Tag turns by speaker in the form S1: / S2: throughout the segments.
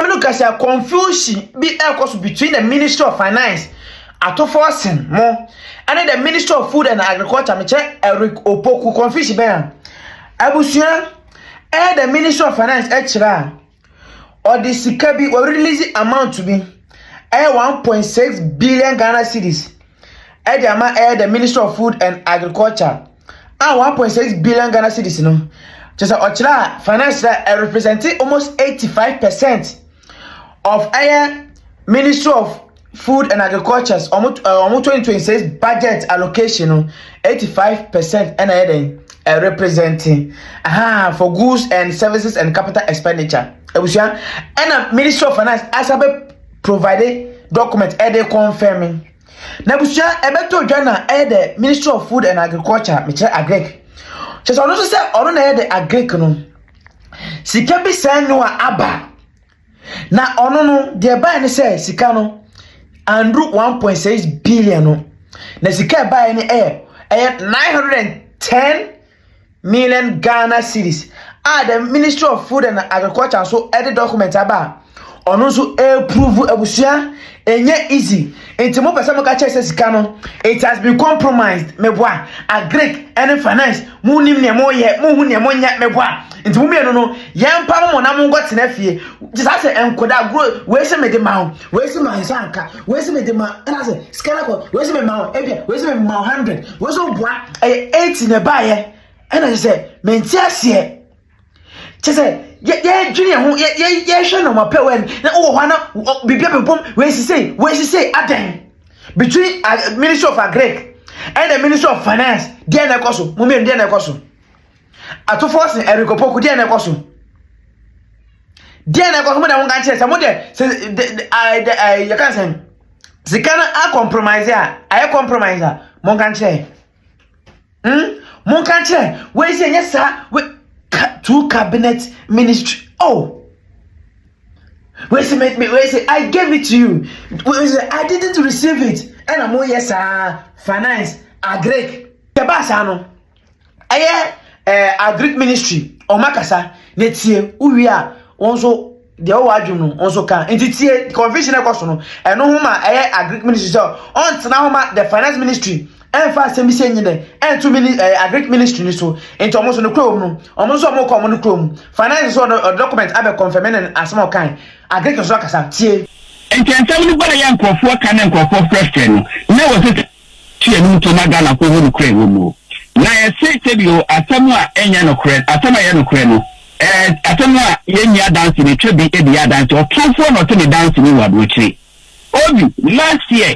S1: Maame no ka sɛ confusion bi ɛrekɔ so between the ministry of finance atofoɔ sen mo ɛne the ministry of food and agriculture mekyɛ Eric Opoku confusion bɛn a abusua ɛyɛ the ministry of finance ɛkyerɛ a ɔde sika bi wɔ release amount bi ɛyɛ 1.6 billion Ghana cedis ɛde ama ɛyɛ the ministry of food and agriculture. a 1.6 billion Ghana cedis no kyerɛ sɛ ɔkyerɛ a finance na ɛrepresent almost 85 percent of ɛyɛ ministry of food and agriculture wɔn wɔn 2026 budget allocation no 85 percent ɛna ɛyɛ dɛn ɛrepresent aha for goods and services and capital expenditure abusua ɛna ministry of finance asa bɛ provide document ɛde confirming. N'abusua ɛbɛtɔ dwa na ɛyɛ dɛ Ministry of Food and Agriculture, mekyerɛ Agric. Kyerɛ sɛ ɔno nso sɛ ɔno na ɛyɛ dɛ Agric no, sika bi sɛn no a aba. Na ɔno no, deɛ bae ne sɛ sika no, anduru 1.6 billion no. Na sika ɛbaeɛ no ɛyɛ ɛyɛ 910 Million Ghana Cedis a the Ministry of Food and Agriculture nso de document aba a ɔno nso ɛreprove abusua ɛnyɛ easy nti mo pɛ sɛ mo ka kyerɛ sɛ sika no it has been compromised meboa agric ɛne finance mo nim nea mo yɛ mo hu nea mo nyɛ meboa nti mo mmienu no yɛn pa mo na mo nkɔ tena fie gye saa sɛ nkoda gro wei sɛ mede ma ho Wei si ma nsa nka, wei si mi de ma ɛna sɛ sika na kɔ, wei si mi ma wɔ ebia, wei si mi ma wɔ hundred, wei si wɔ bua ɛyɛ eighty na ɛbaa yɛ ɛna kyerɛ sɛ mɛ nti aseɛ kyerɛ sɛ yɛ yɛ dwene yɛn ho yɛ yɛ yɛ hwɛ na wɔn apɛ wɛn na wɔ hɔ ana biribi abɛbom wei sise wei sise adɛn between uh, ministry of agric and the ministry of finance deɛ na ɛkɔ so mo mmienu deɛ na ɛkɔ so atofo ɔsɛ ɛrekɔpɔku deɛ na ɛkɔ so. deɛ na ɛkɔ so mo deɛ mo nka nkyerɛ sɛ mo deɛ sɛ de de ɛɛ de ɛɛ yɛka sɛ sika no a compromise a ayɛ compromise a mo nka nkyerɛ hmm mo nka nkyerɛ wei sɛ nyɛ saa wei ka two cabinet ministry oh wei sɛ me wei sɛ i gave it to you wei sɛ i didn't receive it ɛna mo yɛ saa finance agric tɛ baa saa no. ɛyɛ ɛɛ eh, agric ministry wɔn akasa na tie wowie a wɔn nso deɛ wɔwɔ adwene no wɔn nso ka nti tie confusion ɛkɔ so no ɛno ho ma ɛyɛ agric ministry sɛ ɔntena ho ma the finance ministry ɛnfa asɛm bi sɛ nyi dɛ ɛnto mini ɛɛ eh, agric ministry ni so nti wɔn nso no kurom no wɔn nso wɔn kɔ wɔn no kurom finance nso ɔdɔ document abɛ confirm ne asɛm a ɔkan agric nso akasa tie. nti nsɛm no
S2: bɔɔ yɛ nkurɔfoɔ ka ne nkurɔfoɔ frɛfrɛ no na wɔsɛ Fi ɛno mpo na Ghanafo hu nokorɛ wɔ mu. Na yɛse sɛbi o, asɛm a ɛnyɛ nokorɛ, asɛm a ɛyɛ nokorɛ no, ɛɛ, asɛm a yɛnni adanse no, twa bi de yɛ adanse. Ɔtorɔfoɔ na ɔte ne danseni wɔ aburokyire. Obi, last year,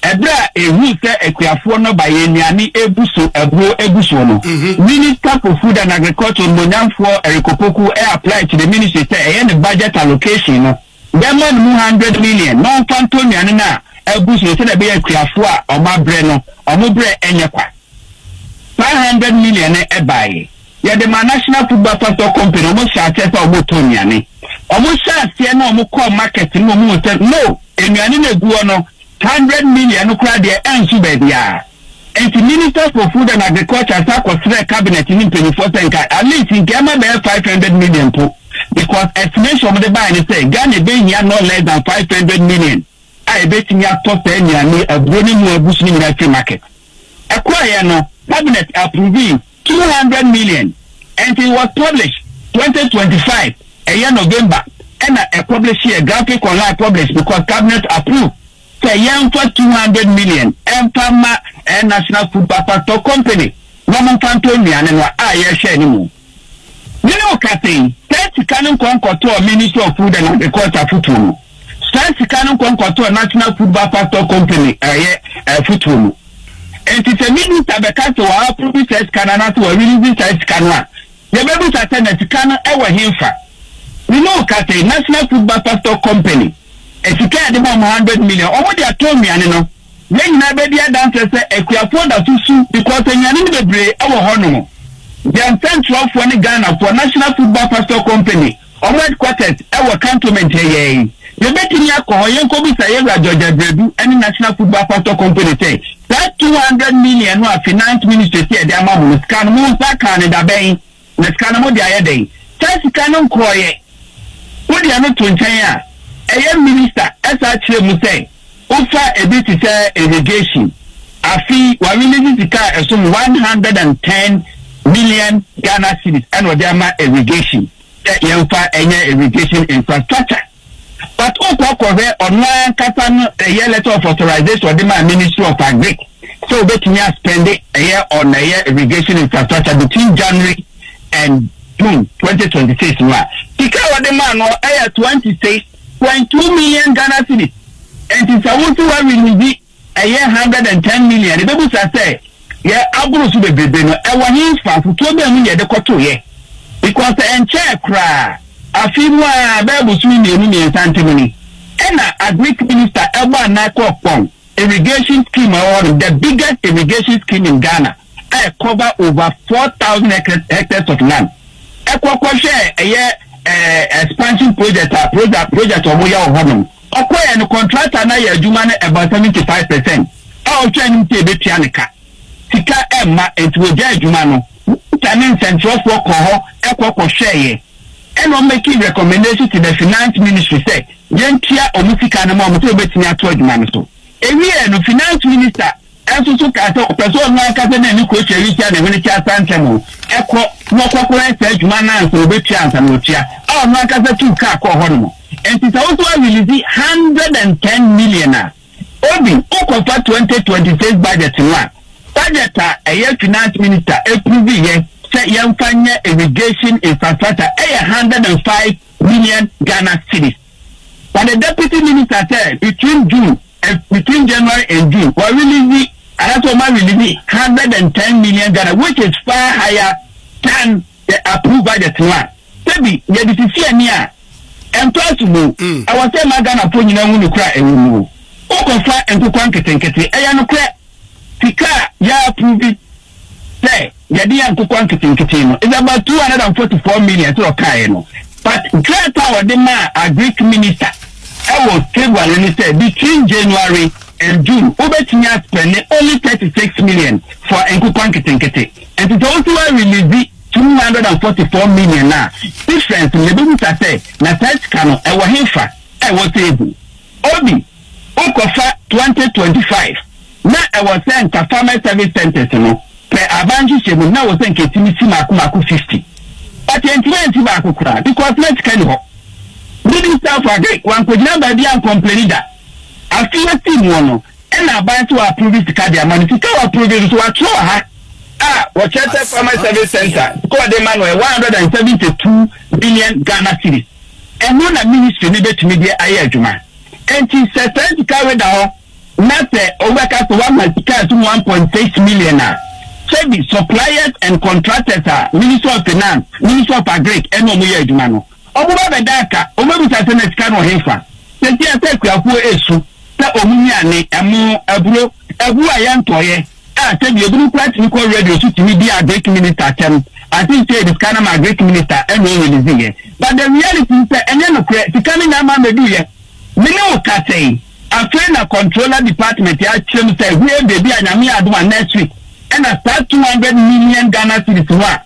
S2: ɛberɛ a ɛhuu sɛ akuafoɔ no ba yɛn nnuane ɛbu so, aburo ɛgu soɔ no, Minister for Food and Agriculture, Onimonyamfoɔ Eric Opoku, ɛ apply to the Ministry sɛ ɛyɛ ne budget allocation no, Yɛmma no mu hundred million na ɔmfa ntɔ nnuane no a abu so no sɛdeɛ ɛbɛyɛ akuafoɔ a wɔn abrɛ no, wɔn brɛ nyɛ kwa. Saa hundred million no baeɛ. Yɛde maa National Food Buffer Stock Company, wɔn hyɛɛ aseɛ sɛ wɔretɔ nnuane. Wɔn hyɛɛ aseɛ na wɔn kɔɔ market no na wɔn huu sɛ no, nnuane no a ɛgu hɔ no, hundred million no koraa deɛ ɛnso baabiara. Enti Minister for Food and Agriculture san kɔsrɛɛ Cabinet ne mpanyinfoɔ sɛ nka at least nka ɛma bɛyɛ five hundred million mpo because estimation a wɔde baeɛ ne sɛ Ghana ɛbɛhia no less than five hundred million a ɛbɛtumi atɔ saa nnuane yi, aburo ne ɛmu a agu so no nyinaa afiri market. Ɛkɔeɛ no, Cabinet approvee two hundred million and it was published twenty twenty five, ɛyɛ November ɛna ɛpublisheɛ, graphic online published because Cabinet approved. sɛ yɛmfa two hundred million mfa mma ɛyɛ National Food Bakwatɔ Company na ɔmo mfa ntɔ nnuane no a, yɛhwɛɛ ne mu. Me ne wo kasa yi, saa sika no nkɔ nkɔtɔɔ Ministry of Food and Agriculture afutuo mu, saa sika no nkɔ nkɔtɔɔ National Food Bakwatɔ Company ɛyɛ afutuo mu. Nti sɛ Minister bɛka sɛ wa approve saa sika no anaasɛ wa release saa sika no a, Yɛbɛbisa sɛ na sika no wɔ henfa? Me ne wo kasa yi, National Food Buffer Stock Company, sika a yɛde ma wɔn hundred million, wɔn de atɔ nnuane no, yɛn nyinaa bɛdi adanseɛ sɛ Akuafoɔ da so su because nnuane no bebree wɔ hɔ nom. Yɛn nsɛnkyerɛwfoɔ ne Ghanafoɔ, National Food Buffer Stock Company, Wɔn headquarters wɔ Cantonment ha yi ara yi. Yɛbɛtumi akɔ hɔ yɛnkɔbisa Yɛwura George Abradu ne National Football Pastor Company sɛ, saa two hundred million no a Finance Ministry se yɛde ama mo no, sika no mo nsa kaa no dabɛn? Na sika no mode ayɛ dɛn? Saa sika no nkɔeɛ. Wode ɛno to nkyɛn a, ɛyɛ Minister saa kyerɛ mu sɛ, Wofa ebi te sɛ irrigation, afe yi wɔarelease sika a ɛsom one hundred and ten million Ghana cedis na wɔde ama irrigation sɛ yɛmfa nyɛ irrigation infrastructure. But wokɔ kɔhwɛ ɔno ara ankasa no ɛyɛ letter of authorization a ɔde maa Ministry of Agric sɛ wobɛtumi a spende ɛyɛ on ɛyɛ irrigation infrastructure between January and June twenty twenty six no a, sika a wɔde maa no ɛyɛ twenty six Twenty two million Ghana cedis nti sɛ wo se wa release ɛyɛ hundred and ten million yɛ bɛbu sa sɛ yɛ aboro so bebrebe no ɛwɔ he nfasotoɔ bɛn mu na yɛde kɔto yɛ because sɛ ɛnkyɛɛ koraa afe mu aa bɛɛ bosome mmienu mmiensa ntem ni ɛna agric minister ɛbɔ anaa kɔɔ kpɔn irrigation scheme a ɛwɔ hɔ nom the biggest irrigation scheme in Ghana. a ɛ cover over four thousand hectares hectares of land ɛkɔ kɔ hwɛɛ ɛyɛ ɛɛ expansion project a project project ɔmo yɛ wɔ hɔ nom ɔkɔ yɛ no contractor na yɛ adwuma no about seventy five percent a ɔhwɛ anim sɛ ebetua ne ka sika ɛmma nti wɔgya adwuma no ta ne nsɛnkyerɛfoɔ kɔ hɔ ɛkɔ kɔ hwɛɛ yɛ ɛna ɔmo making recommendation to the finance ministry sɛ yɛn tua ɔmo sika no ma ɔmo sɛ ɔbɛtumi ato adwuma no so ewie no finance minister nso so kaa sɛ ɔpɛ sɛ ɔno ankasa ne ne kurotia yi tua ne hwene kyɛ asan ntɛm o, ɛkɔ na ɔkɔkɔyɛ saa adwuma no ansa ɔbɛtua ansa na ɔtua, a ɔno ankasa tuu kaa kɔɔ hɔ nom. Enti sɛ wo nso woarelease hundred and ten million a, Obi, wokɔfa twenty twenty six budget no a, budget a ɛyɛ Finance Minister approveeɛ sɛ yɛmfa nyɛ irrigation infrastructure yɛ hundred and five million Ghana cedis. for the deputy minister sɛ between June and between January and June wa release anaasɛ wɔn a release hundred and ten million Ghana which is far higher than the approved budget no a sɛbi yɛde sisi ani a ɛntɔ asom o ɛwɔ sɛ ɛma Ghanafoɔ nyinaa hu nokorɛ a ɛwɔ mu o wokɔfa nkokoa nketenkete ɛyɛ nokorɛ sika a yɛ approve sɛ yɛde yɛ nkokɔ nketenkete no is about two hundred and forty four million sɛ ɔkaeɛ no but threat a wɔde maa agric minister ɛwɔ February no ne sɛ between January and June wobɛtumi aspɛne only thirty six million for nkokɔ nketenkete nti sɛ wosi wa release two hundred and forty four million a difference no yɛbɛbusa sɛ na saa sika no ɛwɔ hefa a ɛwɔ table obi Wokɔfa twenty twenty five na ɛwɔ sɛ nka farmers service centres no pɛ aban nhyehyɛ mu na ɛwɔ sɛ nka ɛtumi si maako maako fifty but ɛntumi ansi baako koraa because na sika ni hɔ. Minister of agric wankɔgyina baabi ancomplaini da. Afe yi ɔsii muɔ no ɛna aban sɛ wɔapprove sika de ama no. Sika a wɔapprove no so wɔatwerɛ wɔ ha a wɔkyerɛ sɛ farmers service centre sika wɔde ma no yɛ one hundred and seventy two million Ghana cedis. Ɛno na ministry no bɛtumi de ayɛ adwuma. Enti sɛ saa sika wei da hɔ na sɛ obi bɛka sɛ wama sika a ɛsom one point six million a, sɛbi suppliers and contractors a Ministry of Finance, Ministry of Agric ɛne wɔn yɛ adwuma no, wɔbɛba abɛda aka, wɔbɛbisa sɛ na sika no wɔ hefa? Seesei asɛ akuafoɔ resu sɛ wɔn nnuane, ɛmo, aburo, abuo a yɛntɔeɛ. A Sɛbi ebinom koraa tumi kɔ radio so tumi di Agric minister atɛm, I think sɛ yɛde sika no ma Agric minister ɛna ɔ release yɛ, but the reality ne sɛ ɛnyɛ nokorɛ, sika no nyinaa maa mɛduu yɛ. Me ne wo kasa yi, afei na controller department akyerɛ mu sɛ hue baabi a Nyame adom a next week ɛna saa 200 million Ghana cedis no a,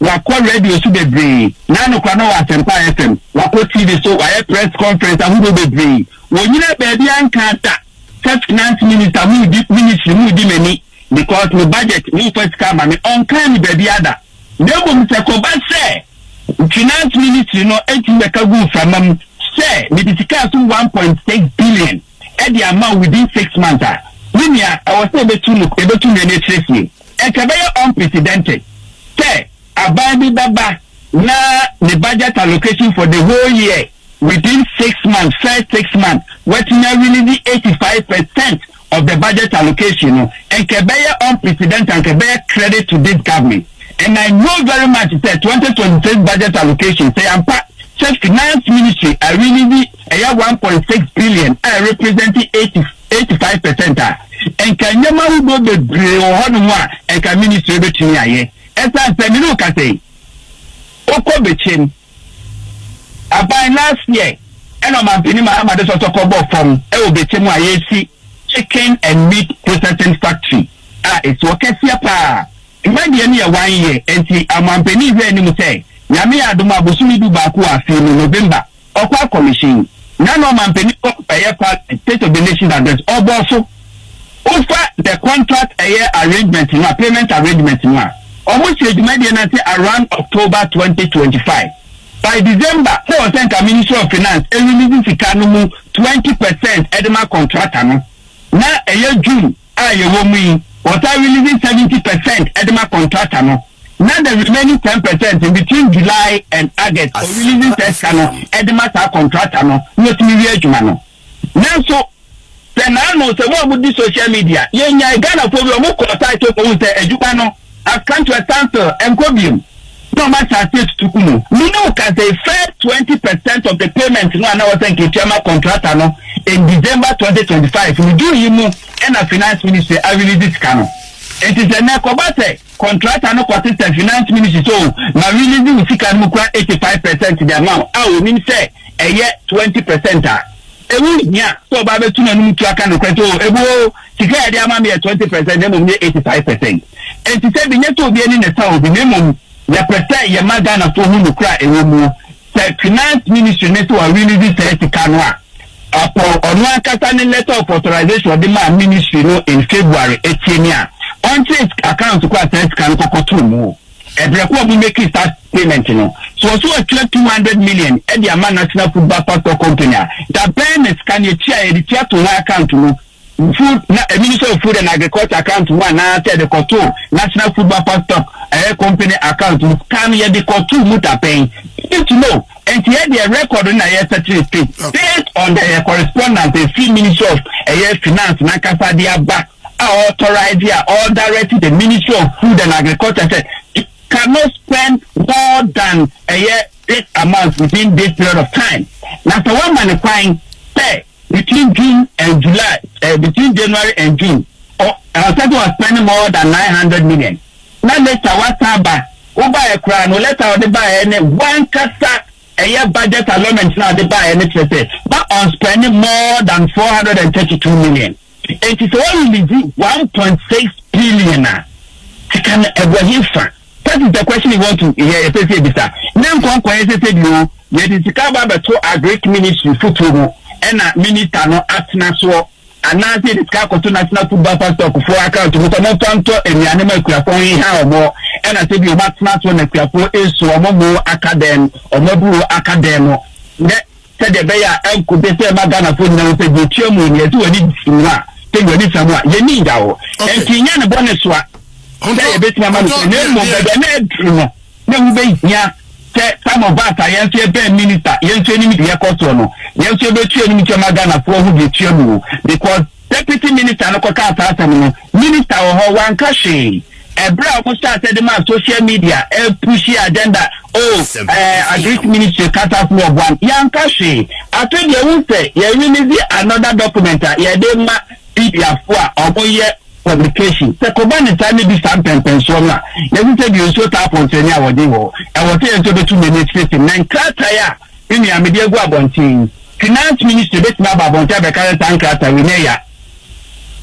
S2: Wakɔ radio so bebree. N'anokora no wɔ Asempa FM. Wakɔ TV so, wayɛ press conference ahodoɔ bebree. Wɔnyinaa baabiara nkaa da sɛ finance minister mudi, ministry mudi m'ani because me budget momfa sika ma me. Ɔnkaa me baabiara da. Na mmom sɛ kɔba sɛ finance ministry no tumi bɛka gu mframa mu sɛ mede sika a ɛsom one point six billion, ɛde ama wo within six months a, me nua, ɛwɔ sɛ ebetu no, ebetu nnua no akyiri asie. Ɛka ɛbɛyɛ unprecedented sɛ aban bi bɛba na ne budget allocation for the whole year within six months, first six months, watumi arelease eighty five percent of the budget allocation no. Ɛka ɛbɛyɛ unprecedented, ɛka ɛbɛyɛ credit to this government. And I know very much sɛ twenty twenty six budget allocation sɛ yɛampa sɛ finance ministry arelease ɛyɛ one point six billion a ɛrepresente eighty eighty five percent a, nka nneɛma ahodoɔ bebree wɔ hɔnom a nka ministry betumi ayɛ. Ɛsan sɛ me ne wo kasa yi, wokɔ Bekyem aban last year ɛna ɔmampanin Mahama de sɔsɔ kɔbɔ fam ɛwɔ Bekyem a yɛresi chicken and meat processing factory a ɛsi hɔ kɛseɛ paa. Mma deɛ no yɛ one year nti ɔmampanin hwɛ anim sɛ Nyame yɛ adom a bosome du baako wɔ afe yi mu, November, Ɔkwaar Commission na na ɔmanpanin wɔ ɛyɛ Parliament, State of the Nation's Address, ɔbɔɔ so. Wofa the contract ɛyɛ arrangement no a, payment arrangement no a, ɔmo hyɛɛ dwumadie no ase around October twenty twenty five. By December, na ɛwɔ sɛ nka Ministry of Finance ɛrelease sika no mu twenty percent ɛde ma contractor no, na ɛyɛ June. a yɛwɔ mu yi, wɔtaa release seventy percent de ma contractor no, na the remaining ten percent no between July and August o release saa sika no de ma saa contractor no na otumi wie adwuma no. Nanso, sɛ naano sɛ mo a modi social media, yɛnyae Ghanafoɔ bi wɔkɔɔ site hɔ kɔhuu sɛ adwuma no, Askanto Asanso nkɔ biom na ɔmo ahyɛ aseɛ atutu ku mu. Me ne wo ka sei first twenty percent of the payment no a na wɔsɛ nketua ma contractor no in December twenty twenty five no June yi mu ɛna finance ministry a release sika no. Nti sɛ nɛ kɔba sɛ contractor no kɔ sesɛ finance ministry sɛ o ma release wo sika no mu kura eighty five percent de ama wo a onim sɛ ɛyɛ twenty percent a Ɛho nhia sɛ ɔbaa bɛtu n'anom tu aka nokorɛ sɛ, Oo, ɛbu oo, sika a yɛde ama me yɛ twenty percent na mmom nyɛ eighty five percent. Ɛnte sɛ bi, nyɛ sɛ obi ani na ɛsã obi, na mmom yɛpɛ sɛ yɛma Ghanafoɔ hu nokorɛ a ɛwɔ mu. Sɛ Finance Ministry no sɛ wa release saa sika no a, ɔpɔn ɔno ankasa ne letter of authorization a ɔde maa Ministry no in February atie ne a, ɔnkyere account kɔ a saa sika no kɔkɔtoo mu. Ɛbrɛ ko a ɔmo meki saa payment no. So ɔse watua two hundred million de ama National Food Buffer Stock Company a, da bɛn na sika no yɛtua a yɛde tua to wɔn account mu, Food, na Ministry of Food and Agriculture account mu anaa sɛ yɛde kɔto National Food Buffer Stock, ɛyɛ company account mu, sika no yɛde kɔto mu da bɛn? We need to know. Nti yɛ deɛ record no na yɛ settle straight based on the ɛyɛ correspondence ɛfiri Ministry of ɛyɛ Finance no ankasa de aba. a ɔɔtɔraese a ɔɔdarɛte the ministry of food and agriculture sɛ it cannot spend more than ɛyɛ this amount within this period of time na sɛ woama no kwan sɛ between June and July eh, between January and June ɔ ɛsɛ sɛ ɔspend more than nine hundred million na later wasan ba wobaeɛ koraa no lɛta a ɔde baeɛ ne wankasa ɛyɛ budget allotment na ɔde baeɛ no kyerɛ sɛ ma ɔnspend more than four hundred and thirty two million. Enti sɛ wɔrelease one point six billion a, sika no ɛgu ɛhe fa? That is the question you want to hear, ɛsɛ sɛ ebisa. Ne nkɔ nkɔyɛ sɛ sɛ bi o, yɛde sika aba abɛto agric ministry fotuo mu ɛna minister no atena soɔ, anaasɛ yɛde sika akɔto national food buffer stock foɔ account mu sɛ wɔmfa ntɔ nnuane ma akuafoɔ ho nha wɔn, ɛna sɛ bi wɔatena soɔ na akuafoɔ esu wɔn mo aka dɛn, wɔn abuo aka dɛn no. Dɛ. Sɛdeɛ ɛbɛyɛ a ɛnko de sɛ ɛma Ghanafoɔ nyina hu sɛ deɛ ɛtua mu yi nea ɛsɛ w'ani simua a sɛ deɛ w'ani samu a yɛni nda hɔ ɛnti nyɛ ne bɔ ne soa sɛ yɛbɛtumi ama no sɛ na mmom bɛbɛ na aduru no na ɛho bɛhia sɛ some of us a yɛnso yɛbɛn minister yɛnso anim de yɛkɔ soɔ no yɛnso yɛbɛtua anim kyɛ ma Ghanafoɔ ho deɛ ɛtua mu because Deputy Minister no kɔkaa saa asɛm no, Minister wɔ hɔ, wanka hwee. Ɛberɛ a wɔhyɛɛ aseɛ de maa social media pushie agenda, oh, eh, Agric Ministry cut us no ɔboam, yɛanka hwee. Afei deɛ wohu sɛ yɛrelease another document a yɛde rema mediafoɔ a wɔyɛ publication. Sɛ kɔba ne saa ne di saa mpɛmpɛnsoɔ no a, yɛse sɛ deɛ nsuo taa pɔnsɛne a wɔdwen wɔ hɔ. Ɛwɔ sɛ yɛn nso yɛbɛtu yɛn ani akyiri se mmɛn krataa a Me nua, mede agu abɔnten yi. Finance Ministry bɛtumi aba abɔnten abɛka sɛ saa nkrataa wei, nyɛ ya.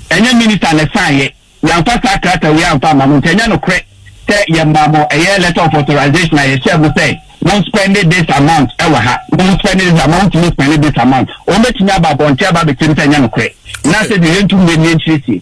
S2: Ɛnyɛ Minister na ɛsaeɛ. Yɛamfa saa krataa wei amfa amma mo, nti ɛnyɛ nokorɛ sɛ yɛmaa mo ɛyɛ letter of authorization a yɛhyɛɛ mo sɛ mo nspɛnde this amount ɛwɔ ha, mo nspɛnde this amount, montumi nspɛnde this amount. Wɔbɛtumi aba abɔnten aba abɛkyerɛ mu sɛ ɛnyɛ nokorɛ. Na sɛdeɛ yɛntu mmire no yɛnkyerɛ sie.